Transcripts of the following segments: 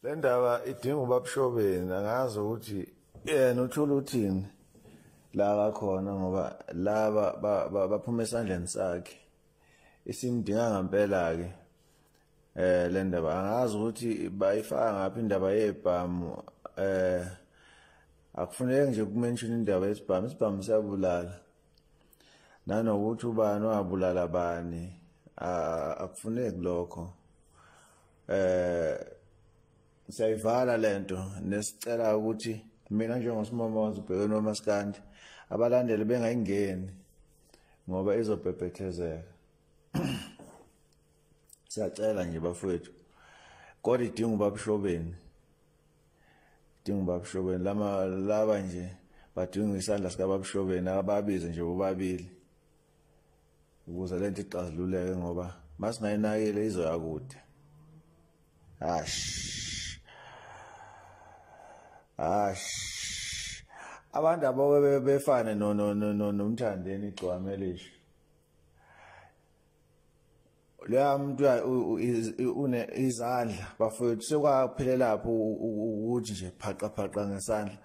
le ndaba idinga ubabshobeni angazi ukuthi yena uthula uthini la kakhona ngoba laba baphuma esandleni sakhe isimdinga ngempela-ke eh le ndaba angazi ukuthi bayifaka ngaphi indaba yebhamu eh akufuneki nje kumenshini indaba yesibhamu isibhamu siyabulala nanokuthi ubani wabulala bani akufuneki lokho eh siyayivala lento nesicela ukuthi mina njengosimama wazibheke nomaskandi abalandeli bengayingeni ngoba izobhebhethezeka siyacela nje bafowethu kodwa idinga ubabishobeni dinga ubabshobeni lama laba nje badinga isandla sikababshobeni ababize nje bobabili ukuze lento ixazululeke ngoba masingayinakile izoya kude ash ash abantu aboke befane no no no nomthandeni igcwame lisho leya muntu une izandla bafowethu sekwaphelela lapho ukuthi nje phaqa phaqa ngesandla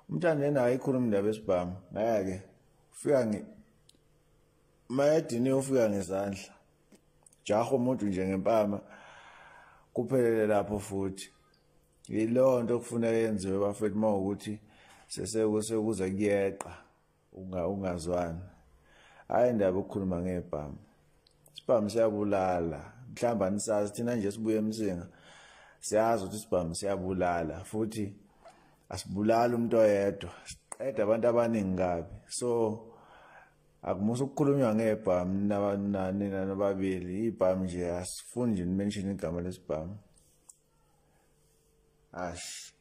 umntana yena ayikhuluma indaba esibhamu ngeke ufika ngi mayedini ufika ngezandla jaho umuntu nje ngempama kuphelele lapho futhi yilonto okufuneka yenziwe bafethu mawukuthi sesekuze kuyeqa unga ungazwani hayi ndaba ukukhuluma ngebhamu sibhamu siyabulala mhlawumbe anisazi thina nje sibuye emsinga siyazi ukuthi isibhamu siyabulala futhi asibulali umuntu oyedwa siqeda abantu abaningi kabi so akumusa ukukhulunywa ngebhamu nina nobabili ibhamu nje asifuni nje nimenshini igama lesibhamu ash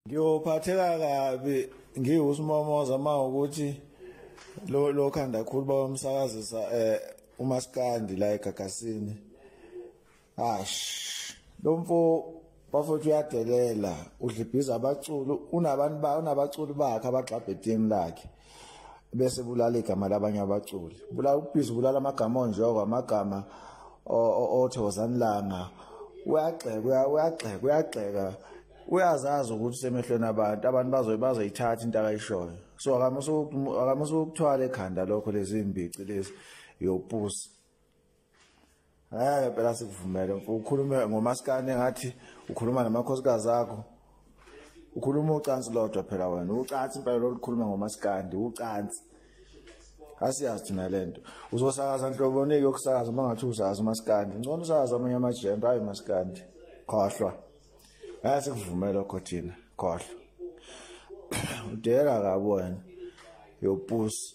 ngiyophatheka kabi ngiwusimomoza uma ukuthi lo lo khanda khulu bawamsakazisa eh umaskandi la egagasini ash lo mfo bafowethu uyadelela udlibhiza abaculi unabantu ba unabaculi bakhe abagxabhe team lakhe bese bulala igama labanye abaculi bulala ubhizi bulala amagama onjoko amagama othe wazanilanga uyagxeka uyagxeka uyagxeka uyazazi ukuthi usemehlweni abantu abantu bazoye bazoyithatha into akayishoyo so akamusa ukuthwala ekhanda lokho lezi mbici lezi yopusi ngeke phela sikuvumele ukhulume ngomaskane ngathi ukhuluma namakhosikazi akho ukhuluma ucansi lodwa phela wena ucansi impela lolukhuluma ngomaskandi ucansi asiyazi thina le nto uzosakaza nhlobonike yokusakaza uma ngathi uzazi umaskandi ngcono usakaza amanye amajembe ayi maskandi khohlwa hayi sikuvume lokho thina khohlwa udela kabi wena yopusi